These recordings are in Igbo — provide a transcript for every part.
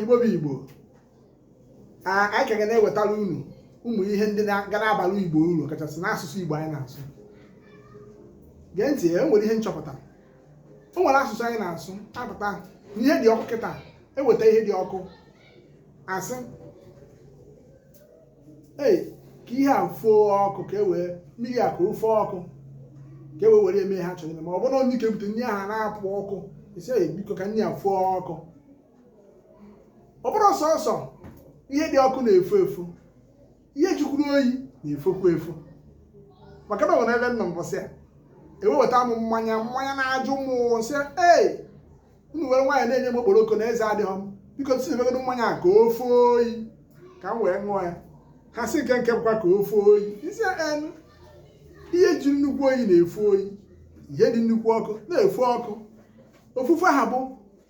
igbo bụ igbo anyị ka ga na-ewetara unu ụmụ ihe ndị ga na-abara igbo uru kachasị n'asụsụ igbo anyị na-asụ gee ntị e nwere ihe m chọpụtara o nwere asụsụ anyị na-asụ apụta ihe dị ọkụ kịta eweta ihe dị ọkụ asị ee ka ihe a foo ọkụ ka e wee mmiri a ka o foo ọkụ ka e wee were ya mee ihe a chọrọ ime ma ọ bụrụ na onye ike bute nri ahụ na-apụ ọkụ ị sị biko ka nri a foo ọkụ ọ bụrọ sọsọ ihe dị ọkụ na-efo efo ihe jikwuru oyi na-efokwu efo maka na o nwere ebe m nọ mbọsị a eweweta m mmanya mmanya na-ajụ m sị ee unu were nwayọ na-enye m okporoko na eze adịghị m biko si ebegodo mmanya a ka o foo oyi ka m wee ṅụọ ya ha sị nke nke bụkwa ka o foo oyi m sị en ihe ji nnukwu oyi na-efo oyi ihe dị nnukwu ọkụ na-efo ọkụ ofufe ha bụ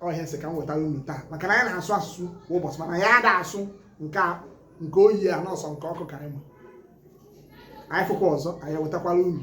ọ ihe a sị ka m wetara unu taa maka na anyị na-asụ asụsụ kwa ụbọchị mana anyị ada asụ nke nke oyi a na ọ sọ nke ọkụ ka anyị ma anyị fụkwa ọzọ anyị ewetakwara unu